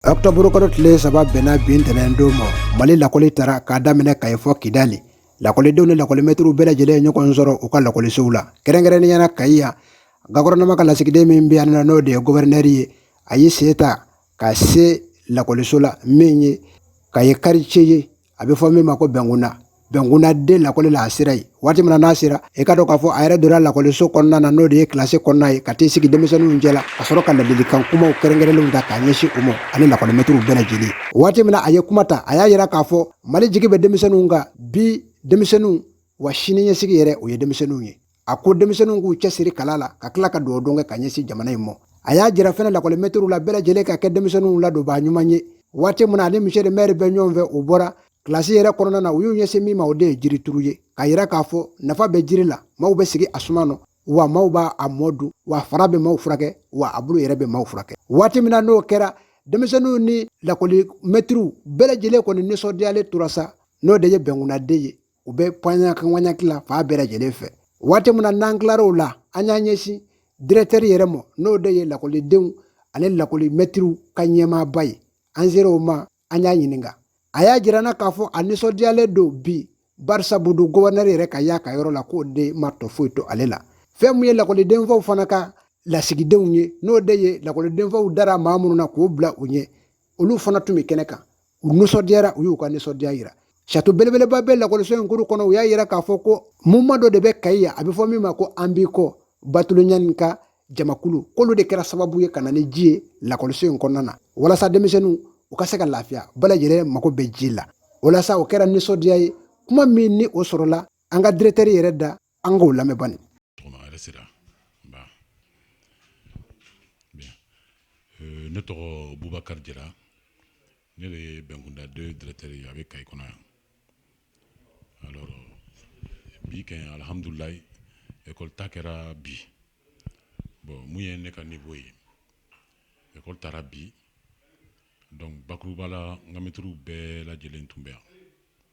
ɔkutɔburu kalo tile saba bɛnna bin ntɛnɛn don ma mali lakɔli taara k'a daminɛ kayi fɔ kidali lakɔlidenw ni lakɔlimɛtiriw bɛɛ lajɛlen ye ɲɔgɔn sɔrɔ u ka lakɔlisow la kɛrɛnkɛrɛnnenya na kayi yan gɔfɛrɛnaman ka lasigiden min bɛ yan n'o de ye gɔfɛrɛnɛri ye a y'i sen ta ka se lakɔliso la min ye kayi kartiye ye a bɛ fɔ min ma ko bɛnkunda bɛnkunda deux lakɔli la a sera yen waati min na n'a sera i ka dɔn k'a fɔ a yɛrɛ donna lakɔliso kɔnɔna na n'o de ye kilasi kɔnɔna ye ka t'i sigi denmisɛnninw cɛ la ka sɔrɔ ka ladilikan kumaw kɛrɛnkɛrɛnlenw ta k'a ɲɛsin u ma ani lakɔlimɛtiriw bɛɛ lajɛlen waati min na a ye kuma ta a y'a yira k'a fɔ mali jigi bɛ denmisɛnninw kan bi denmisɛnninw wa sini ɲɛsigi yɛrɛ o ye denmisɛnninw ye a ko denmisɛnninw k'u cɛsiri kalan la ka tila ka dugawu don kɛ ka ɲɛsin jamana in ma a y'a jira fɛnɛ lakɔlimɛtiriw la bɛɛ lajɛlen ka kɛ denmisɛnninw ladonbaa ɲuman ye waati min na ani misiye mɛri bɛ ɲɔgɔn fɛ u bɔra kilasi yɛrɛ kɔnɔna na u y'u ɲɛsin min ma o de ye jirituru ye k'a yira k'a fɔ nafa bɛ jiri la maaw bɛ sigi a suma nɔ wa maaw b'a mɔ dun wa fara bɛ maaw furakɛ wa a bulu yɛrɛ bɛ maaw furakɛ waati min na n'o kɛra denmisɛnninw ni lakɔlimɛtiriw bɛɛ lajɛlen kɔni nisɔndiyalen tora sa n'o de ye bɛnkunnaden ye u bɛ panɲakanɲaki la fan bɛɛ lajɛlen fɛ waati min na n'an tilar'o la an y'an ɲɛsin diretɛri yɛrɛ ma n'o de ye lakɔlidenw ani lakɔlimɛtiriw ka ɲɛmaaba ye an sera o ma an y'a ɲininka a y'a jir'an na k'a fɔ a nisɔndiyalen don bi barisabu don gɔfɛrɛnɛri yɛrɛ ka y'a ka yɔrɔ la k'o de ma tɔ foyi to ale la fɛn min ye lakɔlidenfaw fana ka lasigidenw ye n'o de ye lakɔlidenfaw dara maa minnu na k'o bila u ɲɛ olu fana tun bɛ kɛnɛ kan u nisɔndiyara u y'u ka nisɔndiya yira sato belebeleba bɛ lakɔliso in kuru kɔnɔ u y'a yira k'a fɔ ko muvuman dɔ de bɛ kayi yan a bɛ fɔ min ma ko an b'i kɔ batuli ɲani ka jamakulu k'olu de kɛra sababu ye ka na ni ji ye lakɔliso in kɔnɔna na walasa denmisɛnninw u ka se ka lafiya bɛɛ lajɛlen mago bɛ ji la o la sa o kɛra nisɔndiya ye kuma min ni o sɔrɔla an ka diretɛri yɛrɛ da an k'o lamɛn bani ne tɔgɔ bubakari jara ne de ye bɛnkunda deux diretɛri ye a bɛ kayi kɔnɔ yan alɔri bi kɛ alihamdulilayi ekɔli ta kɛra bi bɔn mun ye ne ka nivo ye ekɔli taara bi dɔnki bakuruba la n ka mɛtiriw bɛɛ lajɛlen tun bɛ yan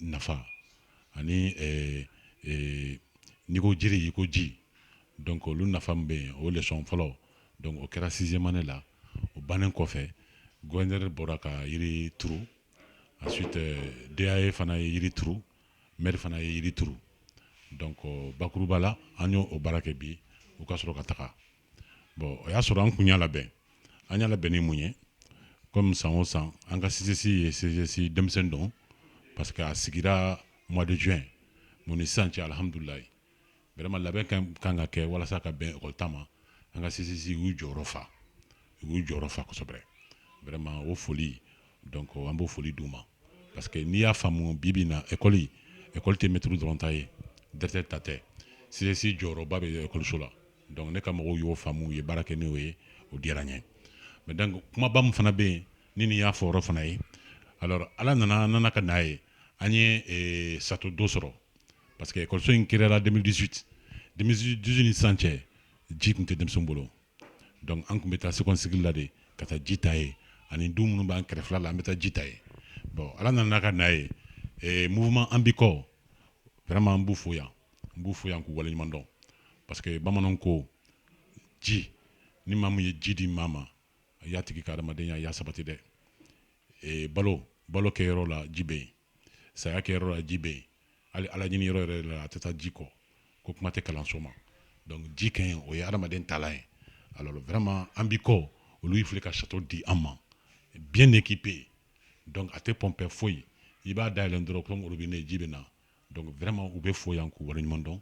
nafa ani n'i ko jiri i ko ji dɔnki olu nafa bɛ yen o lesɔn fɔlɔ dɔnki o kɛra siziyɛmu ane la o bannen kɔfɛ gɔfɛrɛnɛri bɔra ka yiri turu ansuwiti dae fana ye yiri turu mɛri fana ye yiri turu dɔnki bakuruba la an y'o baara kɛ bi u ka sɔrɔ ka taga bon o y'a sɔrɔ an kun y'a labɛn an y'a labɛn ni mun ye comme san o san an ka CGS ye CGS denmisɛnnin don parce que a sigira mois de juin mun ni sisan cɛ alihamudulila vraiment labɛn ka kan ka kɛ walasa ka bɛn école ta ma an ka CGS u y'u jɔyɔrɔ fa u y'u jɔyɔrɔ fa kosɛbɛ vraiment o foli donc an b'o foli d'u ma parce que n'i y'a faamu bi bi in na école école tɛ mɛtiriw dɔrɔn ta ye directeur ta tɛ CGS jɔyɔrɔba bɛ école so la donc ne ka mɔgɔw y'o faamu u ye baara kɛ n'o ye o diyara n ye mais donc kumaba min fana bɛ yen ni nin y'a fɔyɔrɔ fana ye alors ala nana nana ka n'a ye an ye château dɔ sɔrɔ parce que école so in créera 2018 2018 ni sisan cɛ ji tun tɛ denmisɛnw bolo donc an tun bɛ taa second cycle la de ka taa ji ta yen ani du minnu b'an kɛrɛfɛ la an bɛ taa ji ta yen bon ala nana ka n'a ye mouvement an b'i kɔ vraiment an b'u fo yan n b'u fo yan k'u waleɲuman dɔn parce que bamananw ko ji ni maa min ye ji di maa ma a y'a tigi ka adamadenya y'a sabati dɛ e, balo balo kɛyɔrɔ la ji bɛ yen saya kɛyɔrɔ la ji bɛ yen hali ala ɲini yɔrɔ yɛrɛ la a tɛ taa ji kɔ ko kuma tɛ kalanso ma donc ji kɛ yen o ye adamaden taalan ye alors vraiment an b'i kɔ olu y'i fili ka château di an ma bien équipé donc a tɛ pɔnpɛ foyi i b'a dayɛlɛn dɔrɔn comme robinet ji bɛ na donc vraiment u bɛ fo yan k'u waleɲuman dɔn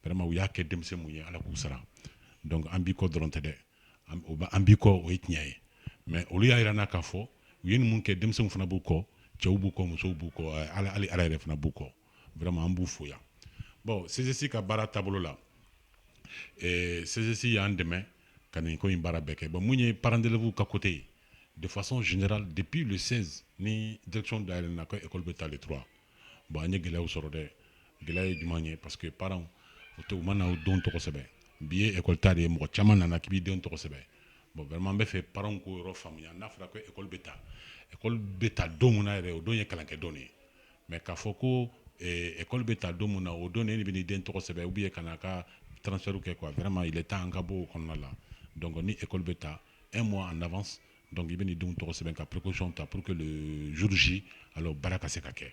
vraiment u y'a kɛ denmisɛnw ye Ala k'u sara donc an b'i kɔ dɔrɔn tɛ dɛ an b'i kɔ o ye tiɲɛ ye mais olu y'a yira an na k'a fɔ u ye nin mun kɛ denmisɛnw fana b'u kɔ cɛw b'u kɔ musow b'u kɔ hali Ala yɛrɛ fana b'u kɔ vraiment an b'u fo yan bon CGS ka baara taabolo la eh, CGS y'an dɛmɛ ka nin ko in baara bɛɛ kɛ bon mun ye parents d'élèves ka côté ye de façon générale depuis le 16 ni direction dayɛlɛna ko école bɛ ta le 3 bon an ye gɛlɛyaw sɔrɔ dɛ gɛlɛya ye jumɛn ye parce que parents u tɛ u ma na u denw tɔgɔ sɛbɛn bi ye école ta de ye mɔgɔ caman nana k'i b'i denw tɔgɔ sɛbɛn bon vraiment n bɛ fɛ parents k'o yɔrɔ faamuya n'a fɔra ko école bɛ ta école bɛ ta don min na yɛrɛ o don ye kalankɛ don de ye mais k'a fɔ ko eh, école bɛ ta don min na o don de e de bɛ n'i den tɔgɔ sɛbɛn ou bien ka n'a ka transfert kɛ quoi vraiment il est temps an ka bɔ o kɔnɔna la donc ni école bɛ ta un mois en avance donc i bɛ n'i denw tɔgɔ sɛbɛn ka précaution ta pour que le jour J alors baara ka se ka kɛ